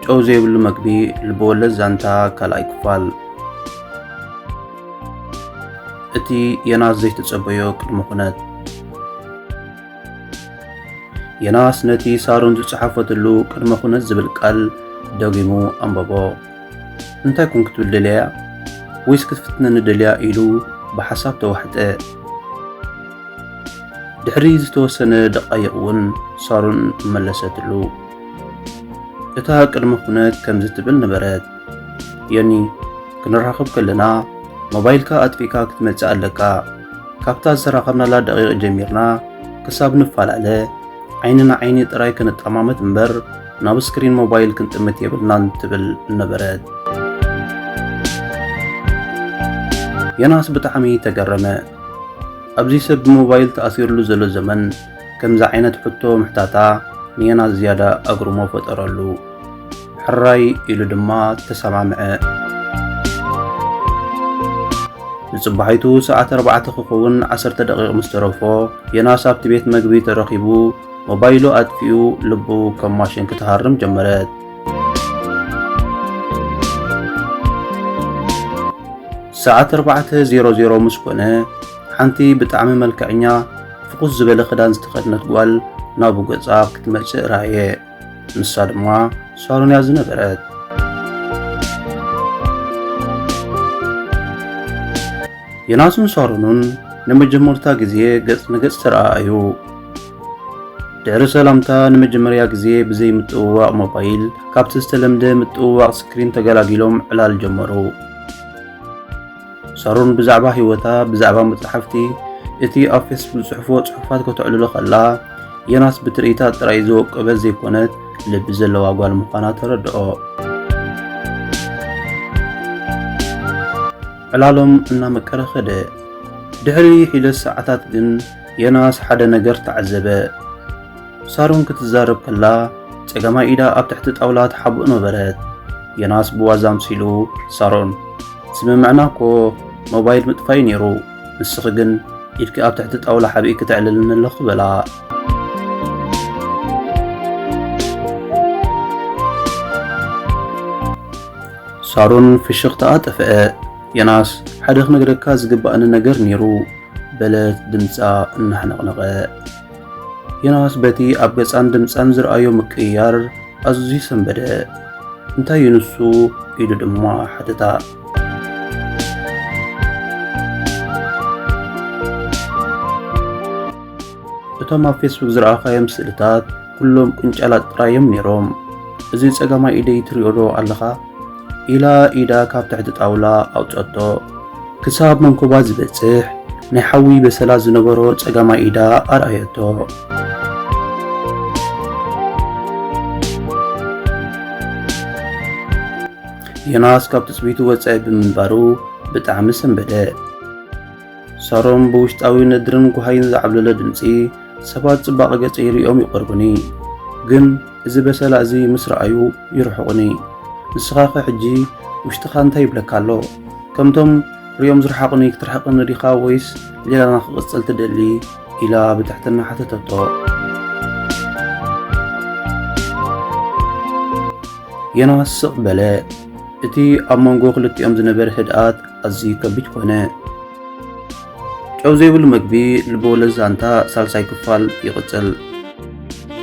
ጨው ዘይብሉ መግቢ ልብወለድ ዛንታ ካልኣይ ክፋል እቲ ዮናስ ዘይተጸበዮ ቅድሚ ኩነት የናስ ነቲ ሳሮን ዝጸሓፈትሉ ቅድመ ኩነት ዝብል ቃል ደጊሙ ኣንበቦ። እንታይ ኮን ክትብል ደልያ ወይስ ክትፍትነኒ ደልያ ኢሉ ብሓሳብ ተዋሕጠ። ድሕሪ ዝተወሰነ ደቃይቕ እውን ሳሮን መለሰትሉ። እታ ቅድመ ኩነት ከምዚ ትብል ነበረት። ዮኒ ክንራኸብ ከለና ሞባይልካ ኣጥፊእካ ክትመጽእ ኣለካ። ካብታ ዝተራኸብናላ ደቂቕ ጀሚርና ክሳብ ንፈላለ ዓይኒ ንዓይኒ ጥራይ ክንጠማመት እምበር ናብ ስክሪን ሞባይል ክንጥምት የብልናን ትብል ነበረት። ዮናስ ብጣዕሚ ተገረመ። ኣብዚ ሰብ ብሞባይል ተኣሲርሉ ዘሎ ዘመን ከምዚ ዓይነት ሕቶ ምሕታታ ንየናስ ዝያዳ ኣግርሞ ፈጠረሉ። ሕራይ ኢሉ ድማ ተሰማምዐ። ንጽባሒቱ ሰዓት ኣርባዕተ ክኸውን ዓሰርተ ደቂቕ ምስ ተረፎ የናስ ኣብቲ ቤት መግቢ ተረኺቡ ሞባይሉ ኣጥፊኡ ልቡ ከም ማሽን ክትሃርም ጀመረት። ሰዓት ኣርባዕተ ዜሮ ዜሮ ምስ ኮነ ሓንቲ ብጣዕሚ መልክዐኛ ፍኹስ ዝበለ ክዳን ዝተኸድነት ጓል ናብኡ ገጻ ክትመጽእ ረኣየ። ንሳ ድማ ሳሎን እያ ዝነበረት። ዮናስን ሳሎኑን ንመጀመርታ ግዜ ገጽ ንገጽ ተረኣኣዩ። ድሕሪ ሰላምታ ንመጀመርያ ግዜ ብዘይ ምጥውዋቕ ሞባይል ካብቲ ዝተለምደ ምጥውዋቕ ስክሪን ተገላጊሎም ዕላል ጀመሩ። ሳሮን ብዛዕባ ህይወታ ብዛዕባ መጽሓፍቲ እቲ ኣብ ፌስቡክ ዝጽሕፍዎ ጽሑፋት ከተዕልሎ ከላ ዮናስ ብትርኢታ ጥራይ ዝወቀበት ዘይኮነት ልቢ ዘለዋ ጓል ምዃና ተረድኦ። ዕላሎም እናመቀረ ኸደ። ድሕሪ ሒደት ሰዓታት ግን ዮናስ ሓደ ነገር ተዓዘበ። ሳሮን ክትዛረብ ከላ ጸጋማይ ኢዳ ኣብ ትሕቲ ጣውላ ተሓብእ ነበረት። ዮናስ ብዋዛ ኣምሲሉ ሳሮን ስምምዕና እኮ ሞባይል ምጥፋይ ነይሩ፣ ንስኺ ግን ኢድኪ ኣብ ትሕቲ ጣውላ ሓብኢ ክተዕልልኒ ኣለኹ በላ። ሳሮን ፍሽኽታኣ ጠፍአ። ዮናስ ሓደ ክነግረካ ዝግባእኒ ነገር ነይሩ በለት ድምፃ እናሕነቕነቐ። ዮናስ በቲ ኣብ ገጻን ድምጻን ዝረኣዮ ምቅይያር ኣዝዩ ሰንበደ። እንታይ እዩ ንሱ ኢሉ ድማ ሓተታ። እቶም ኣብ ፌስቡክ ዝረኣኻዮም ስእልታት ኩሎም ቅንጫላት ጥራዮም ነይሮም። እዚ ጸጋማይ ኢደይ ትሪኦ ዶ ኣለኻ? ኢላ ኢዳ ካብ ትሕቲ ጣውላ ኣውጸቶ። ክሳብ መንኮባ ዝበጽሕ ናይ ሓዊ በሰላ ዝነበሮ ጸጋማይ ኢዳ ኣርኣየቶ። ዮናስ ካብ ትጽቢቱ ወጻኢ ብምንባሩ ብጣዕሚ ሰንበደ። ሳሮን ብውሽጣዊ ነድርን ጓሃይን ዝዓብለለ ድምጺ፣ ሰባት ጽባቐ ገጸይ ርእዮም ይቐርቡኒ፣ ግን እዚ በሰላ እዚ ምስ ረኣዩ ይርሕቑኒ። ንስኻኸ ሕጂ ውሽጥኻ እንታይ ይብለካ ኣሎ? ከምቶም ርእዮም ዝረሓቑኒ ክትርሕቐኒ ዲኻ ወይስ ሌላና ክቕጽል ትደሊ? ኢላ ብትሕትና ሓተተቶ። ዮናስ ስቕ በለ። እቲ ኣብ መንጎ ክልቲኦም ዝነበረ ህድኣት ኣዝዩ ከቢድ ኮነ። ጨው ዘይብሉ መግቢ ልበወለድ ዛንታ ሳልሳይ ክፋል ይቕጽል።